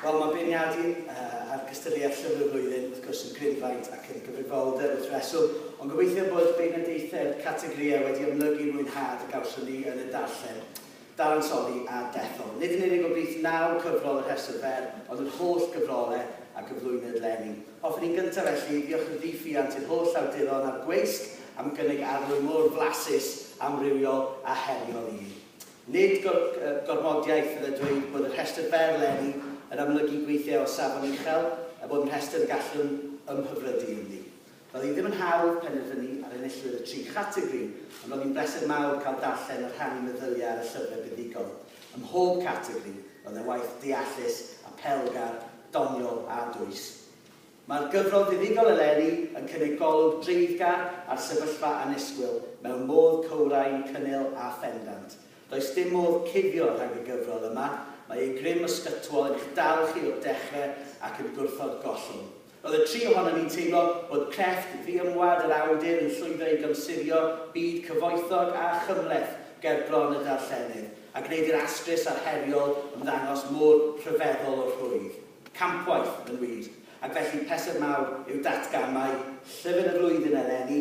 Wel, mae beirniadu uh, ar gystadleuaeth Llyfr y Flwyddyn, wrth gwrs, yn grynfaint ac yn gyfrifoldeb wrth reswm, ond gobeithio bod beirniadaethau'r categorïau wedi amlygu mwynhad y gawson ni yn y darllen. dadansoddi a dethol, nid yn unig o blith naw cyfrol y rhestr fer, ond yr holl gyfrole a gyflwynwyd 'leni. Hoffwn i'n gyntaf, felly, ddiolchyddifuant i'r holl awduron a'r gweisg am gynnig arlwy mor flasus, amrywiol a heriol i mi. Nid gor, gormodiaeth fydde dweud bod y rhestr fer 'leni yn amlygu gweithiau o safon uchel, er bod yn rhestr y gallwn ymhyfrydu ynddi. Doedd hi ddim yn hawdd penderfynu ar enillwyr y tri chategori, ond roedd hi'n bleser mawr cael darllen a rhannu meddyliau ar y llyfrau buddugol. Ym mhob categori, roedd e'n waith deallus, apelgar, doniol a dwys. Mae'r gyfrol fuddugol eleni yn cynnig golwg dreiddgar ar sefyllfa annisgwyl mewn modd cywrain, cynnil a phendant. Does dim modd cuddio rhag y gyfrol yma, mae ei grym ysgytwol yn eich dal chi o'r dechrau ac yn gwrthod gollwng. Roedd y tri ohonom ni'n teimlo bod crefft ddiymwad yr awdur yn llwyddo i gymsurio byd cyfoethog a chymhleth ger bron y darllenydd, a gwneud i'r astrus a'r heriol ymddangos mor rhyfeddol o rhwydd. Campwaith, yn wir. Ac felly, pleser mawr yw datgan mai Llyfr y Flwyddyn eleni,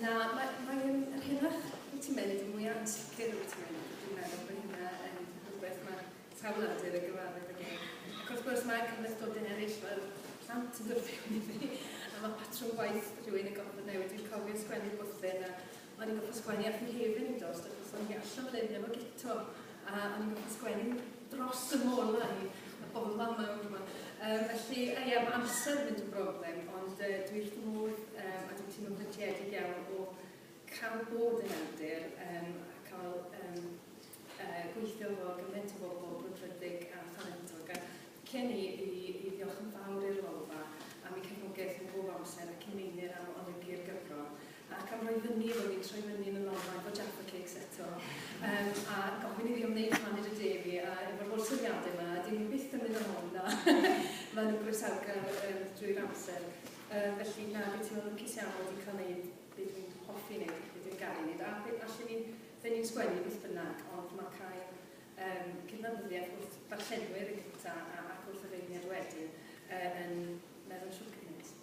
Na, mae'n mae yn yr hynach wyt ti'n mynd, mwy ansicr wyt ti'n mynd. Dwi'n meddwl bod hynna yn rhywbeth mae sawl awdur yn gyfarwydd ag e. Ac wrth gwrs mae cymhlethdodyn eraill fel plant yn dod fewn i fi, a mae patrwm gwaith rhywun yn gorfod newid. Dwi'n cofio sgwennu bwthyn a o'n i'n gorfod sgwennu ar fy nghefn yn dost, achos o'n i allan o lun efo gito. A o'n i'n gwybod sgwennu dros y molau i y bobl fan yma yma. Um, felly, a ie, mae amser yn mynd yn broblem, ond uh, dwi wrth fy modd um, a dwi'n teimlo'n brydriedig iawn o cael bod yn awdur um, a cael um, uh, gweithio efo gymaint o bobl brwdfrydig a thalentog. A cyn i, i, i ddiolch yn fawr i'r lolfa am ei cefnogaeth yn bob amser ac i meini am olygu'r gyfrol. ac am roi fyny efo fi, troi fyny yn y lolfa efo Jaffa Cakes eto, um, a gofyn i fi am wneud pan i'r de fi, a efo'r holl syniadau yma, dyn ni byth yn mynd am hon, na. Mae nhw'n groesawgar um, drwy'r amser. Um, felly, na, beth ti'n meddwl lwcus iawn wedi cael gwneud beth dwi'n hoffi wneud, beth dwi'n gael ei wneud, a beth allan ni'n fe ni'n sgwennu beth bynnag, ond mae cael um, cydnabyddiaeth wrth ddarllenwyr yn gyntaf a, ac wrth y feirniad wedyn uh, yn meddwl siwr cymaint.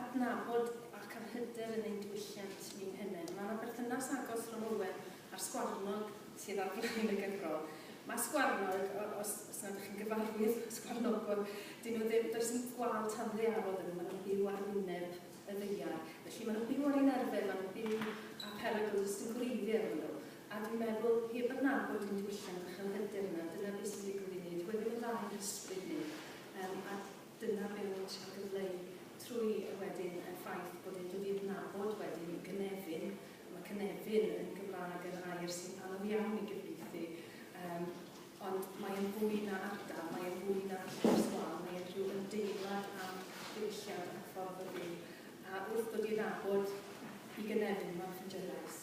adnabod ac ar hyder yn ein diwylliant ni'n hunain. Mae yna berthynas agos rhwng Owen a'r sgwarnog sydd ar flaen y gyfrol. Mae sgwarnog, os, os nad ydych chi'n gyfarwydd â sgwarnogod, dyn nhw ddim, does dim gwal tanddaearol iddyn nhw, maen nhw'n byw ar wyneb y ddaear. Felly maen nhw'n byw ar ein arfer, maen nhw'n byw â perygl, does dim gwreiddiau iddyn nhw. A dwi'n meddwl, heb adnabod ein diwylliant ac yr hyder yna, dyna beth sy'n digwydd i ni. Dyw e ddim yn dda i'n hysbryd ni. Um, a Dyna be wyt ti'n gyfleu trwy y wedyn a'r ffaith bod e'n dod i adnabod wedyn yn gynefin, a mae cynefin yn Gymraeg yn air sy'n anodd iawn i gyfieithu, um, ond mae e'n fwy na ardal, mae e'n fwy na llwys wal, mae e'n rhyw ymdeimlad am ddiwylliant a ffordd o fyw. A wrth dod i adnabod i gynefin, mae'n ffindio'r lais.